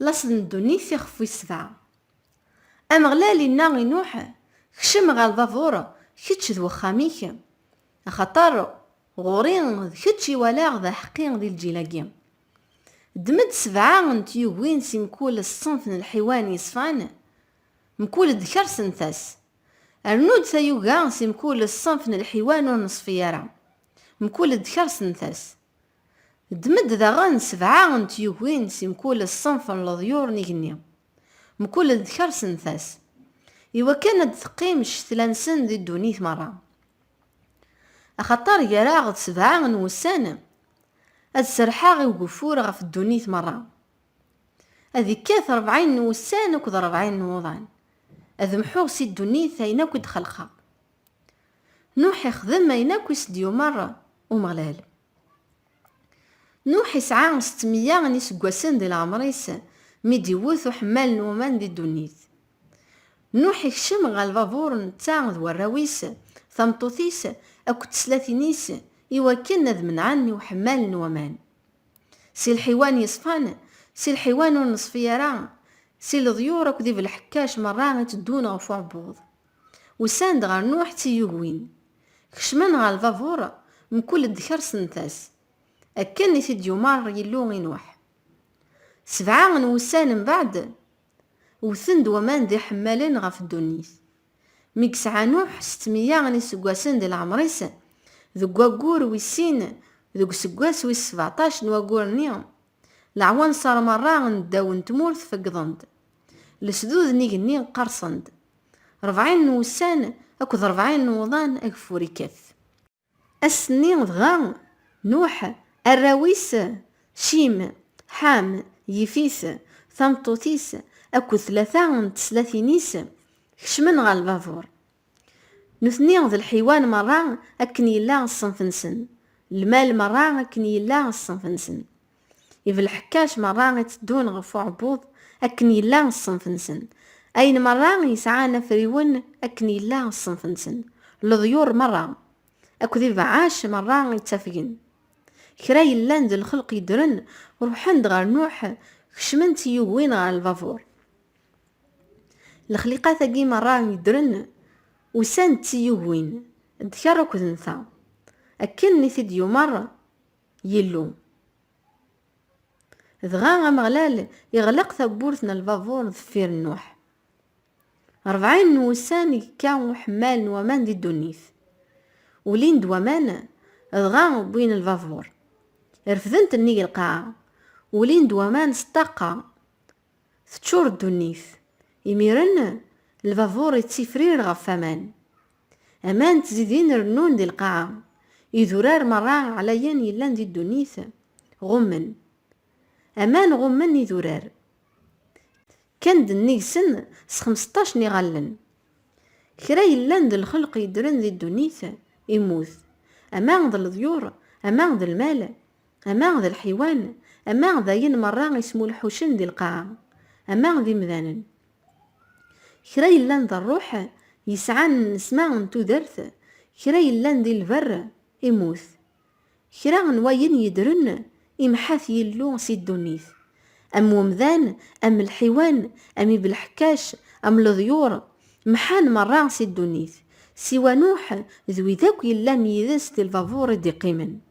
Laṣel n ddunit ixef wis sebɛa. Ameɣlal inna i Nuḥ, Kcem ɣer lbabuṛ, kečč d wexxam-ik, axaṭer ɣur-i d kečč i walaɣ d aḥeqqi di lǧil-agi. Ddem-d sebɛa n tyugin si mkul ṣṣenf n lḥiwan yeṣfan, mkul ddkeṛ sent-as. Rnu-d tayuga si mkul ṣṣenf n lḥiwan ur neṣfi ara, mkul ddkeṛ sent-as. Ddem-d daɣen sebɛa n tyugin si mkul ṣṣenf n leḍyur n igenni, mkul d tkersentas, i wakken ad d-teqqim ccetla-nsen di ddunit merra. Axaṭer gar-aɣ-d sebɛa n wussan, ad serrḥeɣ i ugeffur ɣef ddunit merra. Ad ikkat rebɛin n wussan akked rebɛin n wuḍan, ad mḥuɣ si ddunit ayen akk i d-xelqeɣ. Nuḥ ixdem ayen akk i s-d-yumeṛ Umeɣlal. Nuḥ isɛa settemya n yiseggasen di leɛmeṛ-is mi d-iwwet uḥemmal n waman di ddunit. Nuḥ ikcem ɣer lbabuṛ netta d warraw-is, tameṭṭut-is akked teslatin-is i wakken ad menɛen i uḥemmal n waman. Si lḥiwan yeṣfan, si lḥiwan ur neṣfi ara, si leḍyur akked ibelḥekkac meṛṛa iteddun ɣef uɛebbuḍ. Usan-d ɣer Nuḥ d tiyugwin. Kecmen ɣer lbabuṛ, mkul-d kersen-t-as. Akken i t-id-yumeṛ Yillu i Nuḥ. Sebɛa n wussan mbeɛd, wwten-d waman d iḥemmalen ɣef ddunit. Mi yesɛa Nuḥ settmeyya n yiseggasen di leɛmeṛ-is, deg waggur wis sin, deg useggas wis sbeɛṭac n waggur-nni, Leɛwanser merra n ddaw n tmurt feggḍen-d. Lesdud n igenni qqersen-d. Rebɛin n wussan akked rebɛin n wuḍan ageffur ikkat. Ass-nni dɣa, Nuḥ, arraw-is, Cim, Ḥam, Yifit, tameṭṭut-is akked tlata n teslatin-is kecmen ɣer lbabur. Nutni d lḥiwan merra akken yella ṣṣenf-nsen, lmal merra akken yella ṣṣenf-nsen, ibelḥekkac merra i tteddun ɣef uɛebbuḍ akken yella ṣṣenf-nsen, ayen merra yesɛan afriwen akken yella ṣṣenf-nsen, leḍyur merra akked ibeɛɛac merra i ttafgen. Kra yellan d lxelq yeddren, ruḥen-d ɣer Nuḥ, kecmen-tt yugwin ɣer lbabur. Lexliqat-agi merra yeddren usan d tiyugin, d ker akked n ta, akken i t-id-yumer Yillu. Dɣa Ameɣlal iɣleq tawwurt n lbabur deffir n Nuḥ. Rebɛin n wussan i yekka uḥemmal n waman di ddunit. Ulin-d waman, dɣa wwin lbabur. Refdent nnig lqaɛa. Ulin-d waman s ṭṭaqa, Teččur ddunit. Imiren, lbabuṛ ittifrir ɣef waman. Aman ttzidin rennun di lqaɛa. Idurar meṛṛa ɛlayen yellan di ddunit ɣummen. Aman ɣummen idurar. Kkan-d nnig-sen s xemseṭṭac n iɣallen. Kra yellan d lxelq yeddren di ddunit, immut. Ama d leḍyur, ama d lmal, ama d lḥiwan, ama d ayen merra ismulḥucen di lqaɛa, ama d imdanen. Kra yellan d rruḥ, yesɛan nnesma n tudert, kra yellan di lberr, immut. Kra n wayen yeddren, imḥa-t Yillu si ddunit. Am umdan, am lḥiwan, am ibelḥekkac, am leḍyur, mḥan merra si ddunit, siwa Nuḥ d wid akk yellan yid-s di lbabuṛ i d-iqqimen.